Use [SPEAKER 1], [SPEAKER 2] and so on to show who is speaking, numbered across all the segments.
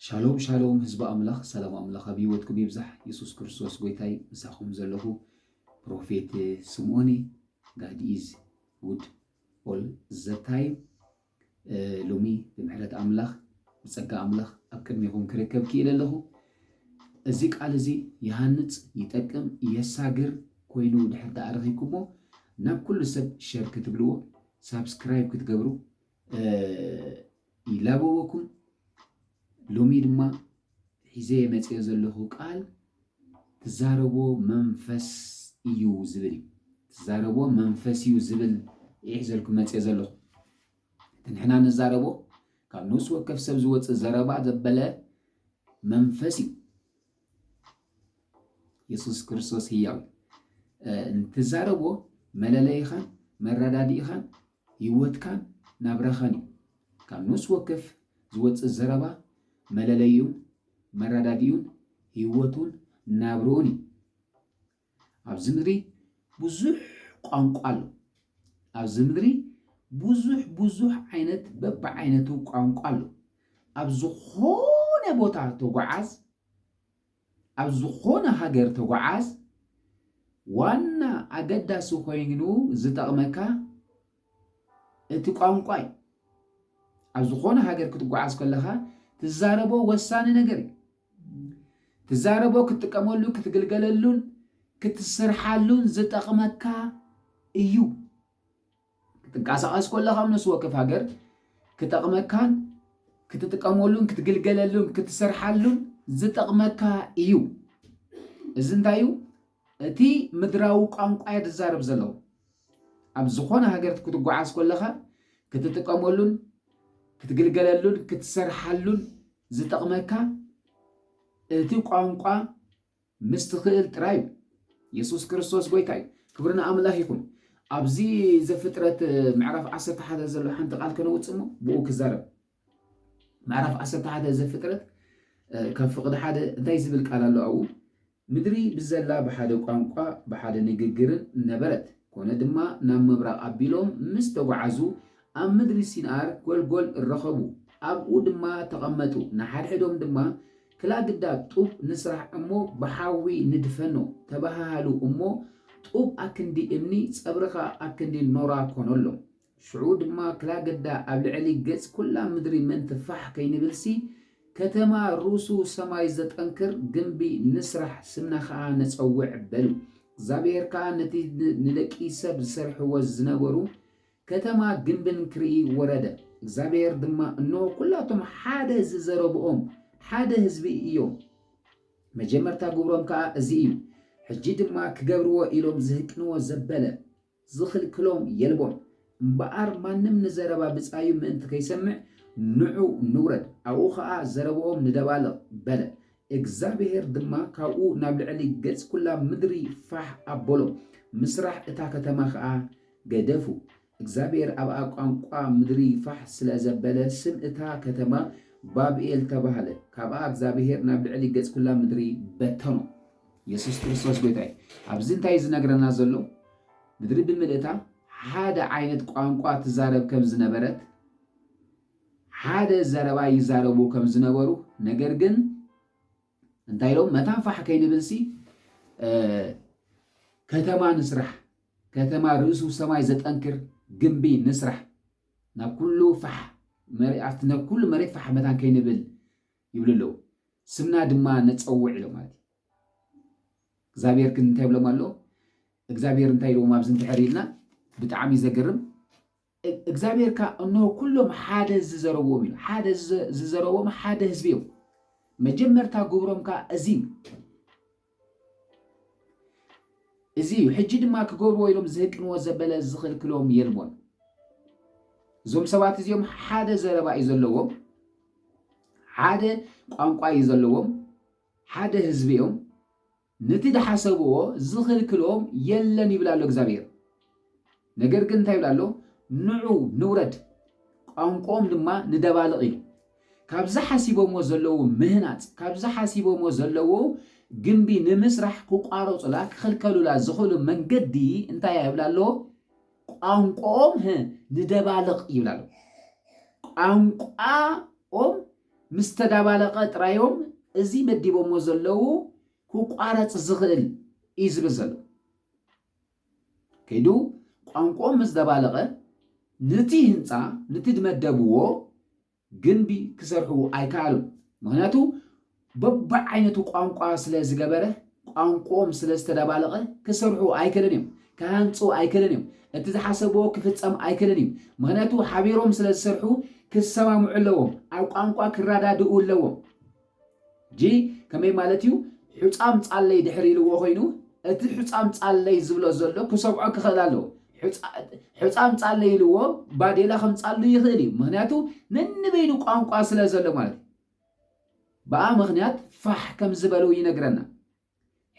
[SPEAKER 1] ሻሎም ሻሎም ህዝቢ ኣምላኽ ሰላም ኣምላኽ ኣብ ህይወትኩም ይብዛሕ የሱስ ክርስቶስ ጎይታይ ምሳኹም ዘለኹ ፕሮፌት ስምኦኒ ጋድ ኢዝ ጉድ ኦል ዘ ታይም ሎሚ ብምሕረት ኣምላኽ ብጸጋ ኣምላኽ ኣብ ቅድሚኹም ክርከብ ክኢለ ኣለኹ እዚ ቃል እዚ ይሃንጽ ይጠቅም የሳግር ኮይኑ ድሕር ተኣረኺኩሞ ናብ ኩሉ ሰብ ሸር ክትብልዎ ሳብስክራይብ ክትገብሩ ይላበወኩም ሎሚ ድማ ሒዘ መፅኦ ዘለኹ ቃል ትዛረቦ መንፈስ እዩ ዝብል ትዛረቦ መንፈስ እዩ ዝብል ይሒዘልኩም መፅኦ ዘለኹ ንሕና ንዛረቦ ካብ ነፍሲ ወከፍ ሰብ ዝወፅእ ዘረባ ዘበለ መንፈስ እዩ የሱስ ክርስቶስ ህያው እንትዛረቦ መለለይኻን መረዳድኢኻን ህይወትካን ናብራኻን እዩ። ካብ ነፍሲ ወከፍ ዝወፅእ ዘረባ መለለዩን መረዳድኡን ህይወቱን ናብርኡን እዩ። ኣብዚ ምድሪ ብዙሕ ቋንቋ ኣሎ። ኣብዚ ምድሪ ብዙሕ ብዙሕ ዓይነት በብዓይነቱ ቋንቋ ኣሎ። ኣብ ዝኾነ ቦታ ተጓዓዝ፣ ኣብ ዝኾነ ሃገር ተጓዓዝ፣ ዋና ኣገዳሲ ኮይኑ ዝጠቕመካ እቲ ቋንቋ እዩ። ኣብ ዝኾነ ሃገር ክትጓዓዝ ከለኻ ትዛረቦ ወሳኒ ነገር እዩ። ትዛረቦ ክትጥቀመሉ ክትግልገለሉን ክትስርሓሉን ዝጠቕመካ እዩ ክትንቀሳቐስ ኮለኻ ምስ ወከፍ ሃገር ክጠቕመካን ክትጥቀመሉን ክትግልገለሉን ክትሰርሓሉን ዝጠቕመካ እዩ እዚ እንታይ እዩ እቲ ምድራዊ ቋንቋ እየ ትዛረብ ዘለዉ ኣብ ዝኾነ ሃገር ክትጓዓዝ ኮለኻ ክትጥቀመሉን ክትግልገለሉን ክትሰርሓሉን ዝጠቕመካ እቲ ቋንቋ ምስ ትኽእል ጥራይ እዩ። የሱስ ክርስቶስ ጎይታ እዩ። ክብሪ ንኣምላኽ ይኹን። ኣብዚ ዘፍጥረት ምዕራፍ ዓሰርተ ሓደ ዘሎ ሓንቲ ቃል ከነውጽእ እሞ ብኡ ክዛረብ ምዕራፍ ዓሰርተ ሓደ ዘፍጥረት ካብ ፍቕዲ ሓደ እንታይ ዝብል ቃል ኣሎ ኣብኡ ምድሪ ብዘላ ብሓደ ቋንቋ ብሓደ ንግግርን ነበረት። ኮነ ድማ ናብ ምብራቕ ኣቢሎም ምስ ተጓዓዙ ኣብ ምድሪ ሲንኣር ጎልጎል ረኸቡ። ኣብኡ ድማ ተቐመጡ፣ ንሓድሕዶም ድማ ክላ ግዳ ጡብ ንስራሕ እሞ ብሓዊ ንድፈኖ ተበሃሃሉ እሞ ጡብ ኣክንዲ እምኒ ጸብርኻ ኣክንዲ ኖራ ኮኖሎም። ሽዑ ድማ ክላገዳ ኣብ ልዕሊ ገጽ ኩላ ምድሪ ምእንቲ ፋሕ ከይንብልሲ፣ ከተማ ርሱ ሰማይ ዘጠንክር ግምቢ ንስራሕ፣ ስምና ከኣ ነጸውዕ በሉ። እግዚኣብሄር ከኣ ነቲ ንደቂ ሰብ ዝሰርሕዎ ዝነበሩ ከተማ ግምብን ክርኢ ወረደ። እግዚኣብሄር ድማ፣ እንሆ፣ ኩላቶም ሓደ ዝዘረብኦም ሓደ ህዝቢ እዮም፣ መጀመርታ ግብሮም ከኣ እዚ እዩ፣ ሕጂ ድማ ክገብርዎ ኢሎም ዝህቅንዎ ዘበለ፣ ዝኽልክሎም የልቦን። እምበኣር ማንም ንዘረባ ብጻዩ ምእንቲ ከይሰምዕ፣ ንዑ ንውረድ፣ ኣብኡ ኸኣ ዘረባኦም ንደባልቕ፣ በለ። እግዚኣብሄር ድማ ካብኡ ናብ ልዕሊ ገጽ ኵላ ምድሪ ፋሕ ኣበሎም፣ ምስራሕ እታ ከተማ ኸኣ ገደፉ። እግዚኣብሄር ኣብኣ ቋንቋ ምድሪ ፋሕ ስለ ዘበለ፣ ስም እታ ከተማ ባብኤል ተባህለ፣ ካብኣ እግዚኣብሄር ናብ ልዕሊ ገጽ ኵላ ምድሪ በተኖም። የሱስ ክርስቶስ ጐይታ እዩ። ኣብዚ እንታይ እዩ ዚነግረና ዘሎ? ምድሪ ብምልእታ ሓደ ዓይነት ቋንቋ ትዛረብ ከም ዝነበረት፣ ሓደ ዘረባ ይዛረቡ ከም ዝነበሩ፣ ነገር ግን እንታይ ኢሎም መታን ፋሕ ከይንብልሲ ከተማ ንስራሕ፣ ከተማ ርእሱ ሰማይ ዘጠንክር ግንቢ ንስራሕ፣ ናብ ኩሉ ፋሕ መሬት ፋሕ መታን ከይንብል ይብሉ ኣለዉ። ስምና ድማ ነጸውዕ ኢሎም ማለት እዩ። እግዚኣብሔር ግን እንታይ ይብሎም ኣሎ? እግዚኣብሔር እንታይ ኢልዎም ኣብዚ እንድሕር ኢልና ብጣዕሚ ዘገርም እግዚኣብሔር ከ እነሆ ኩሎም ሓደ ዝዘረብዎም ኢሉ ሓደ ዝዘረብዎም ሓደ ህዝቢ እዮም። መጀመርታ ግብሮም ከ እዚ እዩ። እዚ እዩ ሕጂ ድማ ክገብርዎ ኢሎም ዝህቅንዎ ዘበለ ዝኽልክሎም የልቦን። እዞም ሰባት እዚኦም ሓደ ዘረባ እዩ ዘለዎም፣ ሓደ ቋንቋ እዩ ዘለዎም፣ ሓደ ህዝቢ እዮም። ነቲ ዝሓሰብዎ ዝኽልክሎም የለን ይብል ኣሎ እግዚኣብሔር። ነገር ግን እንታይ ይብል ኣሎ? ንዑ ንውረድ፣ ቋንቋኦም ድማ ንደባልቕ ኢሉ። ካብዚ ሓሲቦምዎ ዘለዉ ምህናጽ፣ ካብዚ ሓሲቦምዎ ዘለዉ ግምቢ ንምስራሕ ክቋረጹላ፣ ክኽልከሉላ ዝኽእሉ መንገዲ እንታይ ይብል ኣሎ? ቋንቋኦም ህ ንደባልቕ ይብል ኣሎ። ቋንቋኦም ምስ ተዳባለቐ ጥራዮም እዚ መዲቦምዎ ዘለዉ ክቋረጽ ዝኽእል እዩ ዝብል ዘሎ። ከይዱ ቋንቁኦም ምስ ደባለቐ ንቲ ህንጻ ንቲ ድመደብዎ ግንቢ ክሰርሑ ኣይከኣሉን ምክንያቱ በብዓይነቱ ቋንቋ ስለ ዝገበረ ቋንቁኦም ስለ ዝተደባለቐ ክሰርሑ ኣይክእልን እዮም ክሃንጹ ኣይክእልን እዮም እቲ ዝሓሰብዎ ክፍጸም ኣይክእልን እዩ ምክንያቱ ሓቢሮም ስለ ዝሰርሑ ክሰማምዑ ኣለዎም ኣብ ቋንቋ ክረዳድኡ ኣለዎም ሕጂ ከመይ ማለት እዩ ሑጻም ጻለይ ድሕር ኢልዎ ኮይኑ እቲ ሑጻም ጻለይ ዝብሎ ዘሎ ክሰምዖ ክኽእል ኣለዎ ሑጻም ጻለይ ኢልዎ ባዴላ ከምጻሉ ይኽእል እዩ ምክንያቱ ነንበይኑ ቋንቋ ስለ ዘሎ ማለት እዩ በኣ ምክንያት ፋሕ ከም ዝበሉ ይነግረና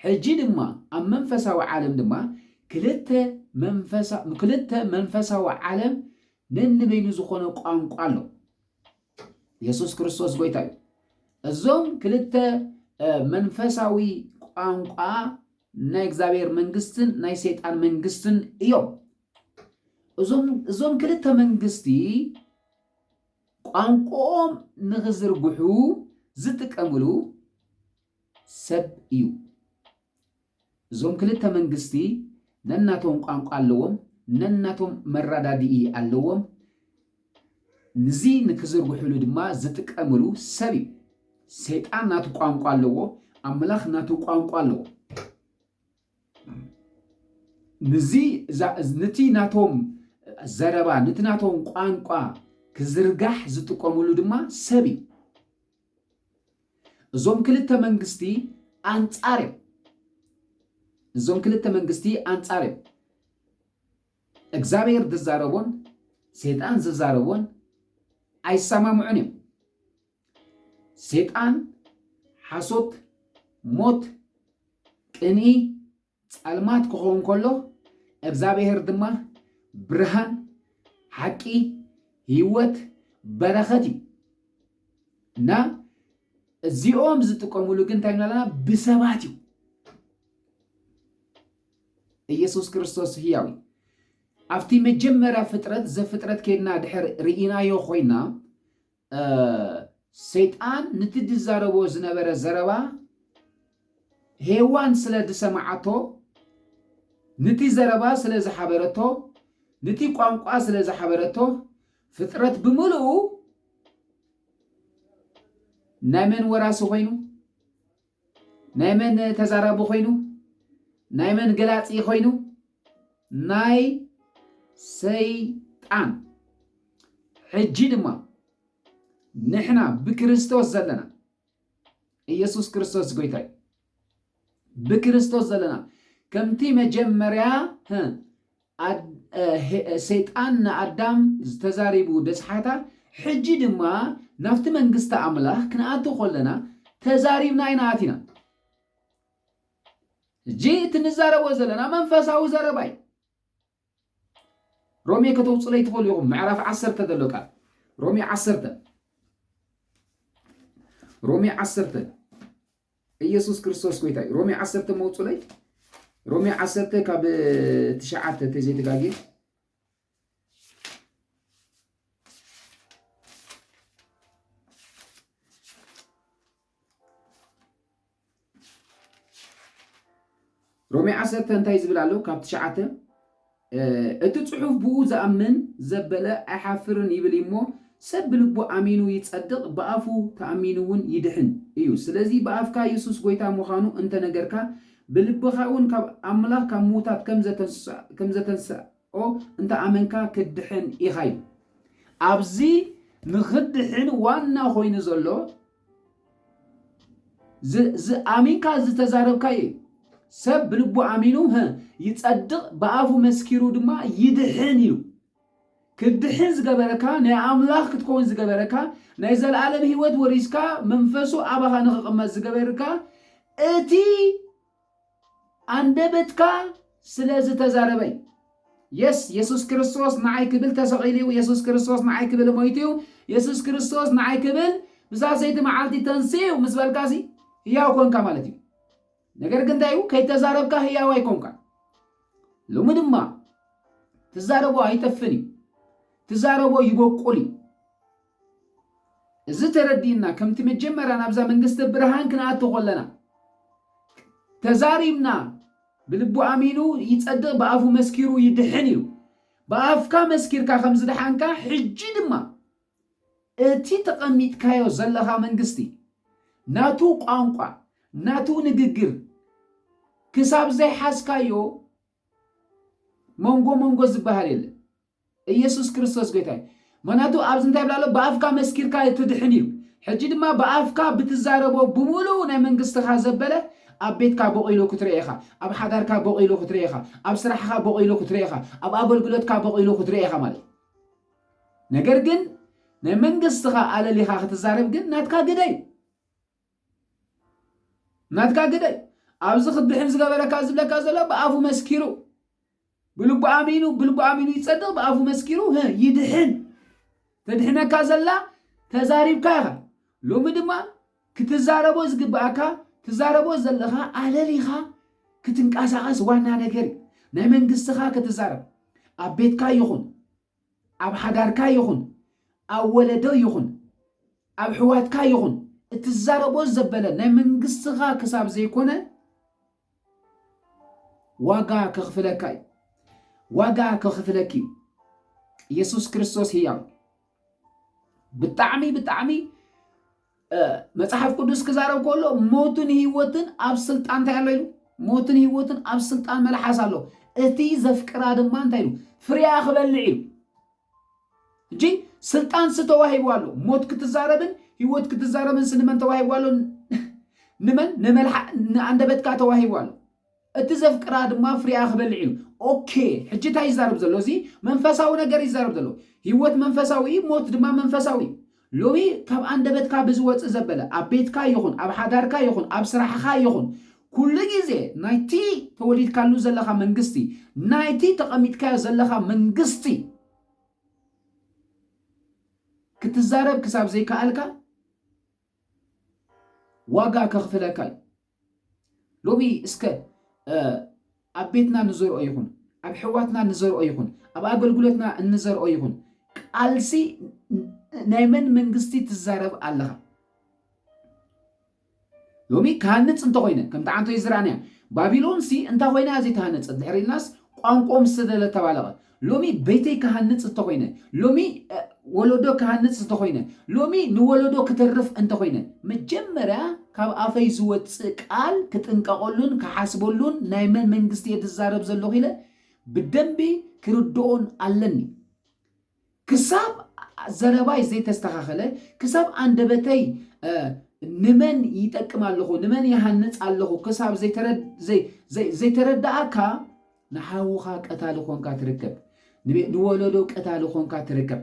[SPEAKER 1] ሕጂ ድማ ኣብ መንፈሳዊ ዓለም ድማ ክልተ መንፈሳ ክልተ መንፈሳዊ ዓለም ነንበይኑ ዝኾነ ቋንቋ ኣሎ። የሱስ ክርስቶስ ጎይታ እዩ። እዞም ክልተ መንፈሳዊ ቋንቋ ናይ እግዚኣብሔር መንግስትን ናይ ሰይጣን መንግስትን እዮም። እዞም ክልተ መንግስቲ ቋንቋኦም ንኽዝርግሑ ዝጥቀምሉ ሰብ እዩ እዞም ክልተ መንግስቲ ነናቶም ቋንቋ ኣለዎም ነናቶም መራዳድኢ ኣለዎም ንዚ ንክዝርግሕሉ ድማ ዝጥቀምሉ ሰብ እዩ ሰይጣን ናቱ ቋንቋ ኣለዎ ኣምላኽ ናቱ ቋንቋ ኣለዎ ንዚ ንቲ ናቶም ዘረባ ንቲ ናቶም ቋንቋ ክዝርጋሕ ዝጥቀምሉ ድማ ሰብ እዩ እዞም ክልተ መንግስቲ ኣንጻር እዮም እዞም ክልተ መንግስቲ ኣንጻር እዮም እግዚኣብሔር ዝዛረቦን ሴጣን ዝዛረቦን ኣይሰማምዑን እዮም ሴጣን ሓሶት ሞት ቅንኢ ጸልማት ክኸውን ከሎ እግዛብሄር ድማ ብርሃን፣ ሓቂ፣ ህይወት፣ በረኸት እዩ። እና እዚኦም ዝጥቀሙሉ ግን እንታይ ኣለና ብሰባት እዩ። ኢየሱስ ክርስቶስ ህያው እዩ። ኣብቲ መጀመርያ ፍጥረት ዘፍጥረት ኬድና ድሕር ርኢናዮ ኮይና ሰይጣን ንቲ ድዛረቦ ዝነበረ ዘረባ ሄዋን ስለ ድሰማዓቶ ንቲ ዘረባ ስለ ዝሓበረቶ ንቲ ቋንቋ ስለ ዝሓበረቶ ፍጥረት ብምልኡ ናይ መን ወራሲ ኮይኑ? ናይ መን ተዛራቢ ኮይኑ ናይ መን ገላጺ ኮይኑ ናይ ሰይጣን ሕጂ ድማ ንሕና ብክርስቶስ ዘለና ኢየሱስ ክርስቶስ ጎይታ እዩ ብክርስቶስ ዘለና ከምቲ መጀመርያ ኣድ ሰይጣን ንኣዳም ዝተዛሪቡ ደጽሓታ ሕጂ ድማ ናብቲ መንግስቲ ኣምላኽ ክንኣቱ ኮለና ተዛሪብና ኢና ኣቲና ሕጂ እቲ ንዛረቦ ዘለና መንፈሳዊ ዘረባ እዩ ሮሜ ከተውፅለይ ትኽእሉ ኢኹም ምዕራፍ ዓሰርተ ዘሎ ቃል ሮሜ ዓሰርተ ሮሜ ዓሰርተ ኢየሱስ ክርስቶስ ጎይታ እዩ። ሮሜ ዓሰርተ መውፁለይ ሮሜ ዓሰርተ ካብ ትሽዓተ ተዘይተጋጌ ሮሜ ዓሰርተ እንታይ ዝብል ኣሎ ካብ ትሽዓተ እቲ ጽሑፍ ብኡ ዝኣምን ዘበለ ኣይሓፍርን ይብል እሞ ሰብ ብልቡ ኣሚኑ ይጸድቅ ብኣፉ ተኣሚኑውን ይድሕን እዩ ስለዚ ብኣፍካ የሱስ ጎይታ ምዃኑ እንተነገርካ ብልብኻውን ካብ ኣምላኽ ካብ ምዉታት ከምዘተንስኦ እንተኣመንካ ክትድሕን ኢኻ ይብል ኣብዚ ንኽድሕን ዋና ኮይኑ ዘሎ ኣሚንካ ዝተዛረብካዮ እዩ። ሰብ ብልቡ ኣሚኑ ይጸድቕ፣ ብኣፉ መስኪሩ ድማ ይድሕን እዩ። ክትድሕን ዝገበረካ ናይ ኣምላኽ ክትከውን ዝገበረካ ናይ ዘለኣለም ህይወት ወሪስካ መንፈሱ ኣባኻ ንኽቕመጥ ዝገበርካ እቲ ኣንደበትካ ስለ ዝተዛረበ እዩ። የስ የሱስ ክርስቶስ ንዓይ ክብል ተሰቒሉ እዩ። የሱስ ክርስቶስ ንዓይ ክብል ሞይቱ እዩ። የሱስ ክርስቶስ ንዓይ ክብል ብሳሰይቲ መዓልቲ ተንስኡ እዩ ምስ በልካሲ ህያው ኮንካ ማለት እዩ። ነገር ግን እንታይ እዩ ከይተዛረብካ ህያው ኣይኮንካ። ሎሚ ድማ ትዛረቦ ኣይጠፍን እዩ። ትዛረቦ ይበቁል እዩ። እዚ ተረዲእና ከምቲ መጀመርያ ናብዛ መንግስተ ብርሃን ክንኣቱ ከለና ተዛሪብና ብልቡ ኣሚኑ ይጸድቕ ብኣፉ መስኪሩ ይድሕን ኢሉ ብኣፍካ መስኪርካ ከም ዝድሓንካ ሕጂ ድማ እቲ ተቐሚጥካዮ ዘለኻ መንግስቲ ናቱ ቋንቋ ናቱ ንግግር ክሳብ ዘይሓዝካዮ መንጎ መንጎ ዝበሃል የለን። ኢየሱስ ክርስቶስ ጎይታ እዩ። ምክንያቱ ኣብዚ እንታይ ይብል ኣሎ ብኣፍካ መስኪርካ ትድሕን እዩ ሕጂ ድማ ብኣፍካ ብትዛረቦ ብምሉኡ ናይ መንግስትኻ ዘበለ ኣብ ቤትካ ቦቂሉ ክትሪኦ ኢኻ ኣብ ሓዳርካ ቦቂሉ ክትሪኦ ኢኻ ኣብ ስራሕኻ ቦቂሉ ክትሪኦ ኢኻ ኣብ ኣገልግሎትካ ቦቂሉ ክትሪኦ ኢኻ ማለት እዩ ነገር ግን ናይ መንግስትኻ ኣለሊኻ ክትዛረብ ግን ናትካ ግደ እዩ ናትካ ግደ እዩ ኣብዚ ክብድሕን ዝገበረካ ዝብለካ ዘሎ ብኣፉ መስኪሩ ብልቡ ኣሚኑ ብልቡ ኣሚኑ ይጸድቕ ብኣፉ መስኪሩ ይድሕን ተድሕነካ ዘላ ተዛሪብካ ኢኻ ሎሚ ድማ ክትዛረቦ ዝግብኣካ ትዛረቦ ዘለኻ ኣለሊኻ ክትንቀሳቐስ ዋና ነገር እዩ ናይ መንግስትኻ ክትዛረብ ኣብ ቤትካ ይኹን ኣብ ሓዳርካ ይኹን ኣብ ወለዶ ይኹን ኣብ ሕዋትካ ይኹን እትዛረቦ ዘበለ ናይ መንግስትኻ ክሳብ ዘይኮነ ዋጋ ከኽፍለካ እዩ ዋጋ ከኽፍለኪ እዩ ኢየሱስ ክርስቶስ ህያው ብጣዕሚ ብጣዕሚ መጽሓፍ ቅዱስ ክዛረብ ከሎ ሞትን ህይወትን ኣብ ስልጣን እንታይ ኣሎ ኢሉ ሞትን ህይወትን ኣብ ስልጣን መልሓስ ኣሎ እቲ ዘፍቅራ ድማ እንታይ ኢሉ ፍርያ ክበልዕ ኢሉ እጂ ስልጣን ስተዋሂቡ ኣሎ ሞት ክትዛረብን ህይወት ክትዛረብን ስንመን ተዋሂቡ ኣሎ ንመን ንመልሓ ንኣንደበትካ ተዋሂቡ ኣሎ እቲ ዘፍቅራ ድማ ፍሪኣ ክበልዕ እዩ ኦኬ ሕጂ እንታይ ይዛረብ ዘሎ እዚ መንፈሳዊ ነገር እዩ ዝዛረብ ዘሎ ሂወት መንፈሳዊ እዩ ሞት ድማ መንፈሳዊ እዩ ሎሚ ካብ ኣንደበትካ ብዝወጽእ ዘበለ ኣብ ቤትካ ይኹን ኣብ ሓዳርካ ይኹን ኣብ ስራሕኻ ይኹን ኩሉ ግዜ ናይቲ ተወሊድካሉ ዘለኻ መንግስቲ ናይቲ ተቐሚጥካዮ ዘለኻ መንግስቲ ክትዛረብ ክሳብ ዘይከኣልካ ዋጋ ከኽፍለካ እዩ። ሎሚ እስከ ኣብ ቤትና ንዘርኦ ይኹን ኣብ ሕዋትና ንዘርኦ ይኹን ኣብ ኣገልግሎትና እንዘርኦ ይኹን ቃልሲ ናይ መን መንግስቲ ትዛረብ ኣለኻ? ሎሚ ክሃንፅ እንተኮይነ ከምቲ ዓንቶ ይዝራእንያ ባቢሎንሲ እንታይ ኮይና እያ ዘይተሃነፀት ድሕሪ ኢልናስ ቋንቋኦም ዝተደለ ተባለቐ ሎሚ ቤተይ ክሃንጽ እተኾይነ፣ ሎሚ ወለዶ ክሃንጽ እተኾይነ፣ ሎሚ ንወለዶ ክተርፍ እንተኾይነ፣ መጀመርያ ካብ ኣፈይ ዝወጽእ ቃል ክጥንቀቐሉን ክሓስበሉን ናይ መን መንግስቲ'የ ዝዛረብ ዘለኹ ኢለ ብደንቢ ክርድኦን ኣለኒ። ክሳብ ዘረባይ ዘይተስተኻኸለ፣ ክሳብ ኣንደበተይ ንመን ይጠቅም ኣለኹ፣ ንመን ይሃንጽ ኣለኹ ክሳብ ዘይተረድኣካ ንሓውኻ ቀታሊ ኾንካ ትርከብ ንወለዶ ቀታሊ ኾንካ ትርከብ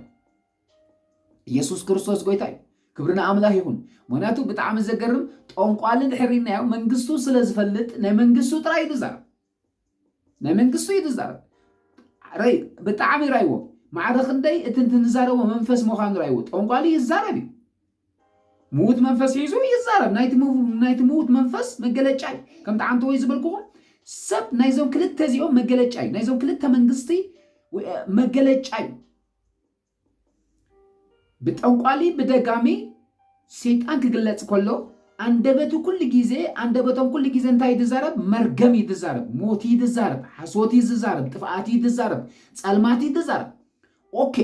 [SPEAKER 1] ኢየሱስ ክርስቶስ ጎይታ እዩ ክብሪ ንኣምላኽ ይኹን ምክንያቱ ብጣዕሚ ዘገርም ጠንቋሊ ድሕሪናዮ መንግስቱ ስለ ዝፈልጥ ናይ መንግስቱ ጥራይ እዩ ዝዛረብ ናይ መንግስቱ እዩ ዝዛረብ ረይ ብጣዕሚ ራይዎ ማዕረ ክንደይ እቲ ንዛረቦ መንፈስ ምዃኑ ራይዎ ጠንቋሊ ይዛረብ እዩ ምዉት መንፈስ ሒዙ ይዛረብ ናይቲ ምው- ናይቲ ምዉት መንፈስ መገለጫ እዩ ከምቲ ዓንተወይ ዝበልክኹም ሰብ ናይዞም ክልተ እዚኦም መገለጫ እዩ ናይዞም ክልተ መንግስቲ ወ- እ፣ መገለጫ እዩ ብጠንቋሊ ብደጋሚ ሰይጣን ክግለጽ ከሎ ኣንደበቱ ኩሉ ግዜ ኣንደበቶም ኩሉ ግዜ እንታይ እዩ ዝዛረብ መርገም እዩ ዝዛረብ ሞት እዩ ዝዛረብ ሓሶት እዩ ዝዛረብ ጥፍኣት እዩ ዝዛረብ ጸልማት እዩ ዝዛረብ ኦኬ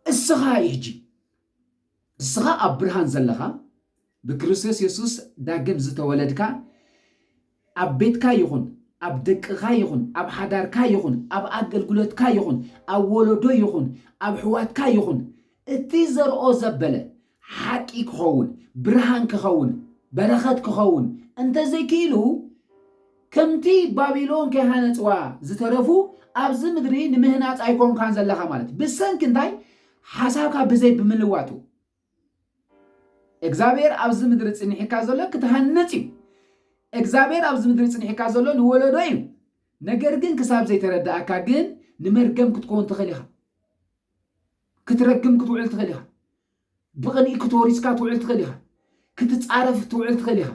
[SPEAKER 1] እስኻ እዩ ሕጂ ንስኻ ኣብ ብርሃን ዘለኻ ብክርስቶስ የሱስ ዳግም ዝተወለድካ ኣብ ቤትካ ይኹን ኣብ ደቅኻ ይኹን ኣብ ሓዳርካ ይኹን ኣብ ኣገልግሎትካ ይኹን ኣብ ወለዶ ይኹን ኣብ ኣሕዋትካ ይኹን እቲ ዘርኦ ዘበለ ሓቂ ክኸውን ብርሃን ክኸውን በረኸት ክኸውን እንተዘይክኢሉ ከምቲ ባቢሎን ከይሃነጽዋ ዝተረፉ ኣብዚ ምድሪ ንምህናጽ ኣይኮንካን ዘለኻ ማለት ብሰንኪ እንታይ ሓሳብካ ብዘይ ብምልዋጡ እግዚኣብሔር ኣብዚ ምድሪ ጽኒሒካ ዘሎ ክትሃንጽ እዩ እግዚኣብሔር ኣብዚ ምድሪ ጽኒሒካ ዘሎ ንወለዶ እዩ ነገር ግን ክሳብ ዘይተረዳእካ ግን ንመርገም ክትከውን ትኽእል ኢኻ ክትረግም ክትውዕል ትኽእል ኢኻ ብቕንኢ ክትወሪስካ ትውዕል ትኽእል ኢኻ ክትጻረፍ ትውዕል ትኽእል ኢኻ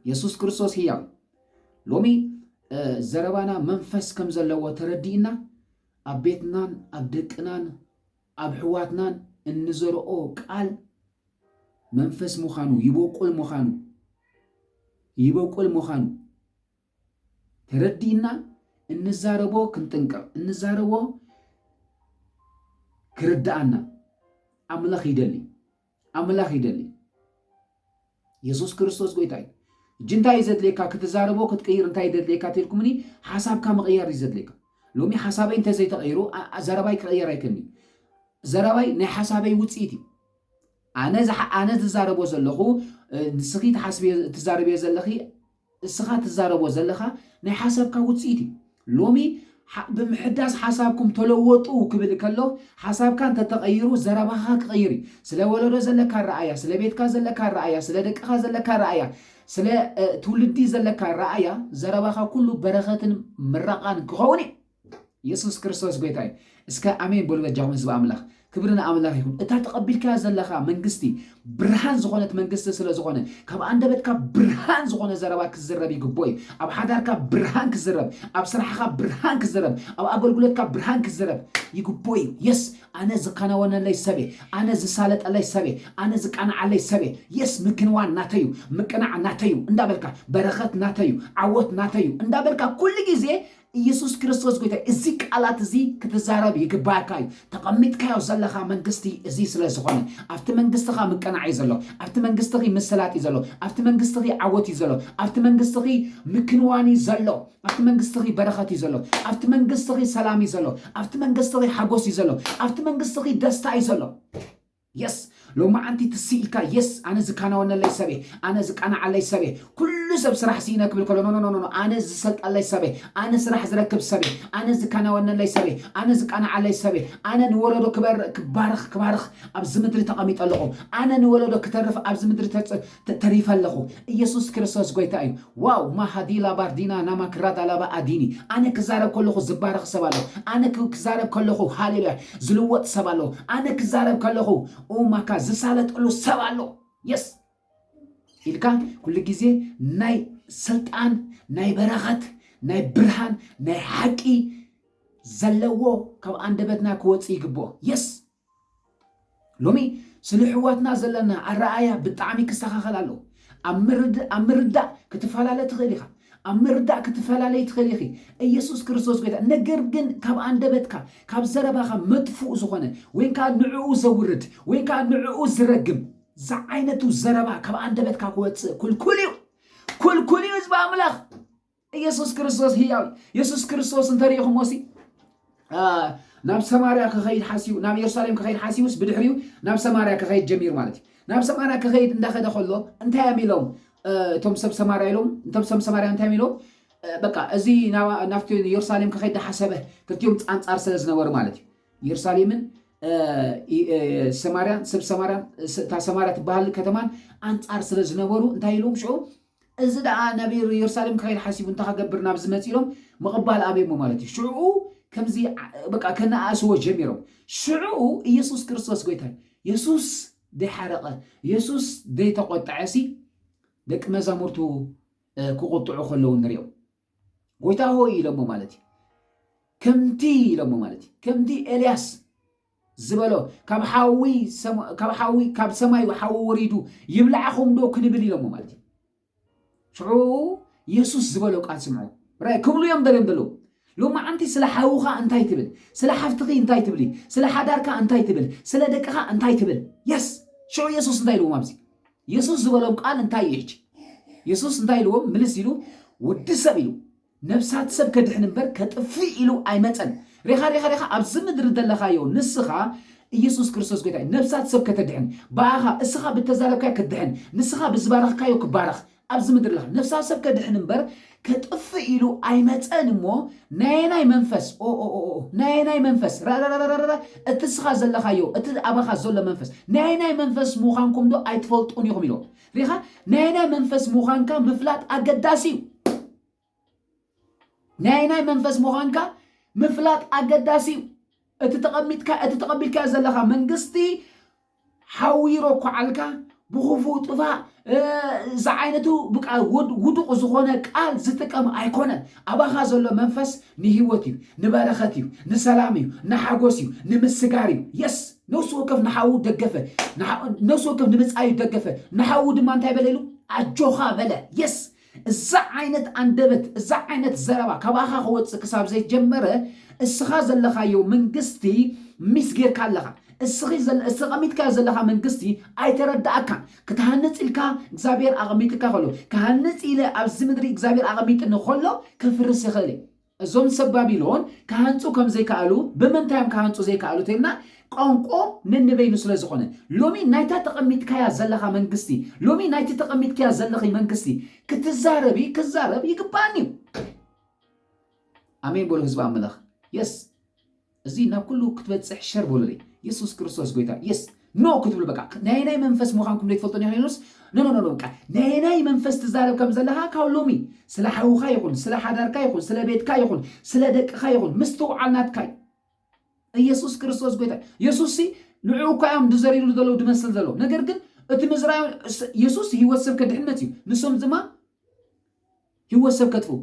[SPEAKER 1] የሱስ ክርስቶስ ህያው እዩ። ሎሚ ዘረባና መንፈስ ከም ዘለዎ ተረዲእና ኣብ ቤትናን ኣብ ደቅናን ኣብ ሕዋትናን እንዘርኦ ቃል መንፈስ ምዃኑ ይበቁል ምዃኑ ይበቁል ምዃኑ ተረዲእና እንዛረቦ ክንጥንቀቕ እንዛረቦ ክርድኣና ኣምላኽ ይደሊ። ኣምላኽ ይደሊ የሱስ ክርስቶስ ጎይታ እዩ። እጂ እንታይ እዩ ዘድልየካ ክትዛረቦ ክትቅይር እንታይ እዩ ዘድልየካ ተልኩምኒ ሓሳብካ ምቕያር እዩ ዘድልየካ ሎሚ ሓሳበይ እንተዘይተቐይሩ ዘረባይ ክቕየር ኣይክእልኒ ዘረባይ ናይ ሓሳበይ ውፅኢት እዩ ኣነ ኣነ ዝዛረቦ ዘለኹ ንስኺ ትሓስብዮ ትዛረብዮ ዘለኺ እስኻ ትዛረቦ ዘለኻ ናይ ሓሳብካ ውጽኢት እዩ። ሎሚ ብምሕዳስ ሓሳብኩም ተለወጡ ክብል ከሎ ሓሳብካ እንተተቐይሩ ዘረባኻ ክቕይር እዩ። ስለ ወለዶ ዘለካ ኣረኣእያ፣ ስለ ቤትካ ዘለካ ኣረኣእያ፣ ስለ ደቅኻ ዘለካ ኣረኣእያ፣ ስለ ትውልዲ ዘለካ ኣረኣእያ ዘረባኻ ኩሉ በረኸትን ምረቓን ክኸውን እዩ። የሱስ ክርስቶስ ጎይታ እዩ። እስከ ኣሜን በሉ በጃኹም ህዝቢ ኣምላኽ። ክብሪ ንኣምላኽ ይኹን። እታ ተቐቢልካያ ዘለኻ መንግስቲ ብርሃን ዝኾነት መንግስቲ ስለ ዝኾነ ካብ ኣንደበትካ ብርሃን ዝኾነ ዘረባ ክዝረብ ይግብኦ እዩ። ኣብ ሓዳርካ ብርሃን ክዝረብ፣ ኣብ ስራሕኻ ብርሃን ክዝረብ፣ ኣብ ኣገልግሎትካ ብርሃን ክዝረብ ይግብኦ እዩ። የስ ኣነ ዝከናወነለይ ሰብ እየ፣ ኣነ ዝሳለጠለይ ሰብ እየ፣ ኣነ ዝቃንዓለይ ሰብ እየ፣ የስ ምክንዋን ናተይ እዩ፣ ምቅናዕ ናተይ እዩ እንዳበልካ በረኸት ናተይ እዩ፣ ዓወት ናተይ እዩ እንዳበልካ ኩሉ ግዜ ኢየሱስ ክርስቶስ ጐይታ እዩ። እዚ ቃላት እዚ ክትዛረብ ይግባኣካ እዩ። ተቐሚጥካዮ ዘለኻ መንግስቲ እዚ ስለ ዝኾነ። ኣብቲ መንግስትኻ ምቅናዕ እዩ ዘሎ። ኣብቲ መንግስትኺ ምስላጥ እዩ ዘሎ። ኣብቲ መንግስትኺ ዓወት እዩ ዘሎ። ኣብቲ መንግስትኺ ምክንዋን እዩ ዘሎ። ኣብቲ መንግስትኺ በረኸት እዩ ዘሎ። ኣብቲ መንግስትኺ ሰላም እዩ ዘሎ። ኣብቲ መንግስትኺ ሓጎስ እዩ ዘሎ። ኣብቲ መንግስትኺ ደስታ እዩ ዘሎ። የስ ሎማዓንቲ ትስ ኢልካ የስ ኣነ ዝካናወነለይ ሰብ እየ ኣነ ዝቃናዓለይ ሰብ እየ ኩሉ ሰብ ስራሕ ሲኢነ ክብል ከሎ ኖኖኖኖ ኣነ ዝሰልጠለይ ሰብ እየ ኣነ ስራሕ ዝረክብ ሰብ እየ ኣነ ዝካናወነለይ ሰብ እየ ኣነ ዝቃናዓለይ ሰብ እየ ኣነ ንወለዶ ክበር ክባርኽ ክባርኽ ኣብዚ ምድሪ ተቐሚጠ ኣለኹ ኣነ ንወለዶ ክተርፍ ኣብዚ ምድሪ ተሪፈ ኣለኹ እየሱስ ክርስቶስ ጎይታ እዩ። ዋው ማሃዲላ ባርዲና ናማ ክራዳላባ ኣዲኒ ኣነ ክዛረብ ከለኹ ዝባረኽ ሰብ ኣሎ ኣነ ክዛረብ ከለኹ ሃሌሉያ ዝልወጥ ሰብ ኣሎ ኣነ ክዛረብ ከለኹ ኡማካ ዝሳለጠሉ ሰብ ኣሎ የስ ኢልካ ኩሉ ግዜ ናይ ስልጣን ናይ በረኸት ናይ ብርሃን ናይ ሓቂ ዘለዎ ካብ ኣንደበትና ክወፅእ ይግብኦ የስ ሎሚ ስለ ኣሕዋትና ዘለና ኣረኣእያ ብጣዕሚ ክስተኻኸል ኣለዎ። ኣብ ምርድ ኣብ ምርዳእ ክትፈላለ ትኽእል ኢኻ። ኣብ ምርዳእ ክትፈላለይ ትኽእሊ ኢኺ። ኢየሱስ ክርስቶስ ጎይታ ነገር ግን ካብ ኣንደበትካ ካብ ዘረባኻ መጥፉእ ዝኾነ ወይን ከኣ ንዕኡ ዘውርድ ወይን ከኣ ንዕኡ ዝረግም ዝዓይነቱ ዘረባ ካብ ኣንደበትካ ክወጽእ ኩልኩል እዩ። ኩልኩል እዩ ህዝቢ ኣምላኽ። ኢየሱስ ክርስቶስ ህያው እዩ። ኢየሱስ ክርስቶስ እንተሪኢኹሞሲ ናብ ሰማርያ ክኸይድ ሓሲቡ ናብ ኢየሩሳሌም ክኸይድ ሓሲቡስ ብድሕሪኡ ናብ ሰማርያ ክኸይድ ጀሚሩ ማለት እዩ። ናብ ሰማርያ ክኸይድ እንዳኸደ ከሎ እንታይ እዮም ኢሎም እቶም ሰብ ሰማርያ ኢሎም እቶም ሰብ ሰማርያ እንታይ እዮም ኢሎም በቃ እዚ ናብቲ ኢየሩሳሌም ክኸይድ ዳሓሰበ ክልቲኦም ፃንፃር ስለ ዝነበሩ ማለት እዩ ኢየሩሳሌምን ሰማርያን ሰብ ሰማርያን እታ ሰማርያ ትበሃል ከተማን ኣንፃር ስለ ዝነበሩ እንታይ ኢሎም ሽዑ እዚ ደኣ ናብ የሩሳሌም ክኸይድ ሓሲቡ እንታይ ክገብር ናብዚ መጽእ ኢሎም ምቕባል ኣበየሞ ማለት እዩ። ሽዑኡ ከምዚ በቃ ከነኣእስዎ ጀሚሮም። ሽዑኡ ኢየሱስ ክርስቶስ ጎይታ እዩ። የሱስ ደይሓረቐ የሱስ ደይተቖጠዐሲ ደቂ መዛሙርቱ ክቑጥዑ ከለዉ ንሪኦም። ጎይታ ሆይ ኢሎሞ ማለት እዩ። ከምቲ ኢሎሞ ማለት እዩ። ከምቲ ኤልያስ ዝበሎ ካብ ሓዊ ካብ ሓዊ ካብ ሰማዩ ሓዊ ወሪዱ ይብላዕኹም ዶ ክንብል ኢሎሞ ማለት እዩ ሽዑ የሱስ ዝበሎ ቃል ስምዑ ራይ ክብሉ እዮም ደልዮም ዘለዉ ሎማዓንቲ ስለ ሓውኻ እንታይ ትብል ስለ ሓፍትኺ እንታይ ትብሊ ስለ ሓዳርካ እንታይ ትብል ስለ ደቅኻ እንታይ ትብል የስ ሽዑ የሱስ እንታይ ኢልዎም ኣብዚ የሱስ ዝበሎም ቃል እንታይ እዩ ሕጂ የሱስ እንታይ ኢልዎም ምልስ ኢሉ ወዲ ሰብ ኢሉ ነፍሳት ሰብ ከድሕን እምበር ከጥፍእ ኢሉ ኣይመጸን። ሬኻ ሬኻ ሬኻ ኣብዚ ምድሪ ዘለኻዮ ንስኻ ኢየሱስ ክርስቶስ ጎይታ እዩ። ነፍሳት ሰብ ከተድሕን ብኣኻ እስኻ ብተዛረብካዮ ክትድሕን ንስኻ ብዝባረኽካዮ ክባረኽ ኣብዚ ምድሪ ኣለኻ። ነፍሳት ሰብ ከድሕን እምበር ከጥፍእ ኢሉ ኣይመጸን እሞ ናየናይ መንፈስ ኦኦኦኦ ናየናይ መንፈስ ራራራራራ እቲ እስኻ ዘለኻዮ እቲ ኣባኻ ዘሎ መንፈስ ናየናይ መንፈስ ምዃንኩም ዶ ኣይትፈልጡን ኢኹም ኢሎም። ሪኢኻ ናይ ኣየናይ መንፈስ ምዃንካ ምፍላጥ ኣገዳሲ እዩ። ናይ ኣየናይ መንፈስ ምዃንካ ምፍላጥ ኣገዳሲ እዩ። እቲ ተቐሚጥካ እቲ ተቐቢልካዮ ዘለኻ መንግስቲ ሓዊሮ ኳዓልካ ብኽፉእ ጥፋእ ዝዓይነቱ ብቃ ውዱቕ ዝኾነ ቃል ዝጥቀም ኣይኮነን። ኣባኻ ዘሎ መንፈስ ንህይወት እዩ፣ ንበረኸት እዩ፣ ንሰላም እዩ፣ ንሓጎስ እዩ፣ ንምስጋር እዩ። Yes! ነፍሲ ወከፍ ንሓዉ ደገፈ፣ ንሓ ነፍሲ ወከፍ ንብጻዩ ደገፈ፣ ንሓዉ ድማ እንታይ በለ ኢሉ? ኣጆኻ በለ። Yes! እዛ ዓይነት ኣንደበት፣ እዛ ዓይነት ዘረባ ካባኻ ክወጽእ ክሳብ ዘይጀመረ፣ እስኻ ዘለኻዮ መንግስቲ ሚስ ጌርካ ኣለኻ። እስኺ ዘለ እተቐሚጥካዮ ዘለኻ መንግስቲ ኣይተረድኣካን። ክትሃንጽ ኢልካ እግዚኣብሄር ኣቐሚጥካ ከሎ፣ ክሃንጽ ኢለ ኣብዚ ምድሪ እግዚኣብሄር ኣቐሚጥኒ ከሎ ከፍርስ ይኽእል እየ። እዞም ሰብ ባቢሎን ክሃንጹ ከም ዘይከኣሉ ብምንታይ እዮም ክሃንጹ ዘይከኣሉ ተይልና ቋንቆኦም ነንበይኑ ስለ ዝኾነ ሎሚ ናይታ ተቐሚጥካያ ዘለኻ መንግስቲ ሎሚ ናይቲ ተቐሚጥክያ ዘለኺ መንግስቲ ክትዛረቢ ክዛረብ ይግባኣኒ እዩ። ኣሜን በሉ ህዝቢ ኣምላኽ የስ እዚ ናብ ኩሉ ክትበጽሕ ሸር በሉለይ የሱስ ክርስቶስ ጎይታ የስ ኖ ክትብሉ በቃ ናየናይ መንፈስ ምዃንኩም ዘይትፈልጡ ኒክሌኖስ ኖኖኖ በቃ ናየናይ መንፈስ ትዛረብ ከም ዘለኻ ካብ ሎሚ ስለ ሓውኻ ይኹን ስለ ሓዳርካ ይኹን ስለ ቤትካ ይኹን ስለ ደቅኻ ይኹን ምስትውዓል ናትካይ ኢየሱስ ክርስቶስ ጎይታ የሱስ ሲ ንዕኡ እኳ እዮም ድዘሪሉ ዘለዉ ድመስል ዘለዉ ነገር ግን እቲ ምዝራዮም የሱስ ህይወት ሰብ ከድሕነት እዩ ንሶም ድማ ህይወት ሰብ ከጥፍኡ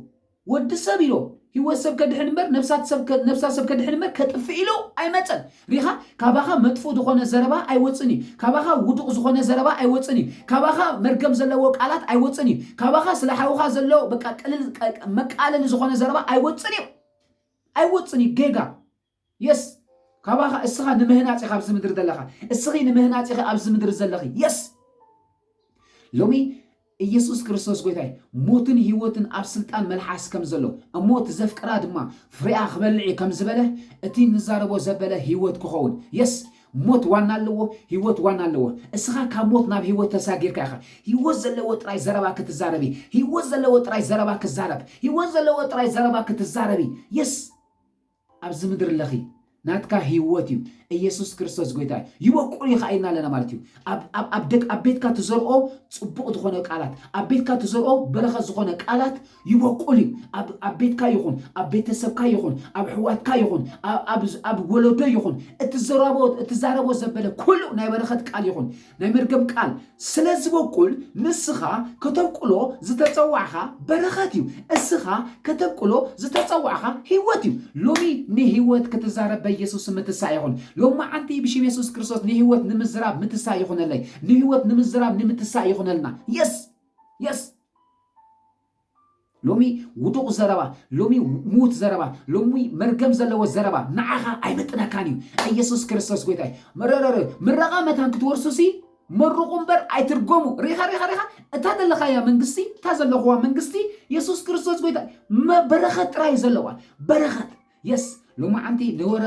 [SPEAKER 1] ወዲ ሰብ ኢሎ ህይወት ሰብ ከድሕን እምበር ነብሳት ሰብ ከ- ነብሳ ሰብ ከድሕን እምበር ከጥፍእ ኢሎ ኣይመጸን ሪኻ ካባኻ መጥፍኡ ዝኾነ ዘረባ ኣይወጽን እዩ ካባኻ ውዱቕ ዝኾነ ዘረባ ኣይወጽን እዩ ካባኻ መርገም ዘለዎ ቃላት ኣይወጽን እዩ ካባኻ ስለ ሓውኻ ዘሎ በቃ ቅልል ቀ- መቃለሊ ዝኾነ ዘረባ ኣይወጽን እዩ ኣይወጽን እዩ ጌጋ Yes ካባኻ እስኻ ንምህናጽ ኢኻ ኣብዚ ምድሪ ዘለኻ እስኺ ንምህናጽ ኢኺ ኣብዚ ምድሪ ዘለኺ የስ ሎሚ ኢየሱስ ክርስቶስ ጎይታይ ሞትን ህይወትን ኣብ ስልጣን መልሓስ ከም ዘሎ እሞ እቲ ዘፍቅራ ድማ ፍሬኣ ክበልዕ እዩ ከም ዝበለ እቲ ንዛረቦ ዘበለ ህይወት ክኸውን የስ ሞት ዋና ኣለዎ ህይወት ዋና ኣለዎ እስኻ ካብ ሞት ናብ ህይወት ተሳጊርካ ኢኻ ህይወት ዘለዎ ጥራይ ዘረባ ክትዛረቢ ህይወት ዘለዎ ጥራይ ዘረባ ክዛረብ ህይወት ዘለዎ ጥራይ ዘረባ ክትዛረቢ የስ ኣብዚ ምድሪ ለኺ ናትካ ህይወት እዩ ኢየሱስ ክርስቶስ ጎይታ እዩ ይበቁል ይኸዓ ኢልና ኣለና ማለት እዩ ኣብ ቤትካ ትዘርኦ ፅቡቕ ዝኾነ ቃላት ኣብ ቤትካ ትዘርኦ በረኸት ዝኾነ ቃላት ይበቁል እዩ ኣብ ቤትካ ይኹን ኣብ ቤተሰብካ ይኹን ኣብ ሕዋትካ ይኹን ኣብ ወለዶ ይኹን እትዘረቦ እትዛረቦ ዘበለ ኩሉ ናይ በረኸት ቃል ይኹን ናይ መርገም ቃል ስለ ዝበቁል ንስኻ ከተብቁሎ ዝተጸዋዕኻ በረኸት እዩ እስኻ ከተብቁሎ ዝተጸዋዕኻ ህይወት እዩ ሎሚ ንህይወት ክትዛረብ በየሱስ ስም ምትሳእ ይኹን ሎማዓንቲ ብሽም የሱስ ክርስቶስ ንህይወት ንምዝራብ ምትሳእ ይኹነለይ ንህይወት ንምዝራብ ንምትሳእ ይኹነልና የስ የስ ሎሚ ውዱቕ ዘረባ፣ ሎሚ ምዉት ዘረባ፣ ሎሚ መርገም ዘለዎ ዘረባ ንዓኻ ኣይምጥነካን እዩ። ኢየሱስ ክርስቶስ ጎይታ እዩ። መረረረ ምረቓ መታን ክትወርሱሲ መርቑ እምበር ኣይትርገሙ። ሪኻ ሪኻ ሪኻ እታ ዘለኻያ መንግስቲ እታ ዘለኹዋ መንግስቲ ኢየሱስ ክርስቶስ ጎይታ እዩ። መ- በረኸት ጥራይ እዩ ዘለዋ በረኸት የስ ሎማዓንቲ ንወረ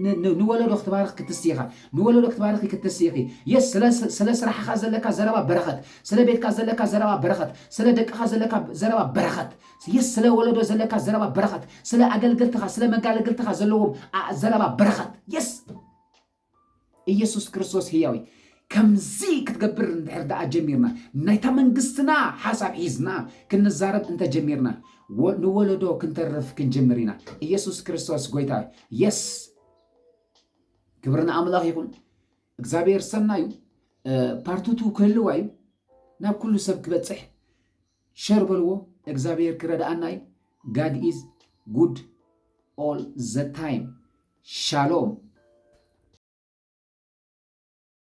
[SPEAKER 1] ን ንወለዶ ክትባርኽ ክትስኢ ኢኻ ንወለዶ ክትባርኺ ክትስኢ ኢኺ የስ ስለ ስለ ስራሕኻ ዘለካ ዘረባ በረኸት ስለ ቤትካ ዘለካ ዘረባ በረኸት ስለ ደቅኻ ዘለካ ዘረባ በረኸት የስ ስለ ወለዶ ዘለካ ዘረባ በረኸት ስለ ኣገልገልትኻ ስለ መጋለግልትኻ ዘለዎም ዘረባ በረኸት የስ ኢየሱስ ክርስቶስ ህያው እዩ። ከምዚ ክትገብር እንድሕር ደኣ ጀሚርና ናይታ መንግስትና ሓሳብ ሒዝና ክንዛረብ እንተጀሚርና ንወለዶ ክንተርፍ ክንጅምር ኢና። ኢየሱስ ክርስቶስ ጎይታ እዩ። የስ ክብሪ ንኣምላኽ ይኹን። እግዚኣብሔር ሰናዩ ፓርትቱ ክህልዋ እዩ ናብ ኩሉ ሰብ ክበፅሕ ሸር በልዎ እግዛብሄር ክረድኣና እዩ ጋድ ኢዝ ጉድ ኦል ዘ ታይም ሻሎም።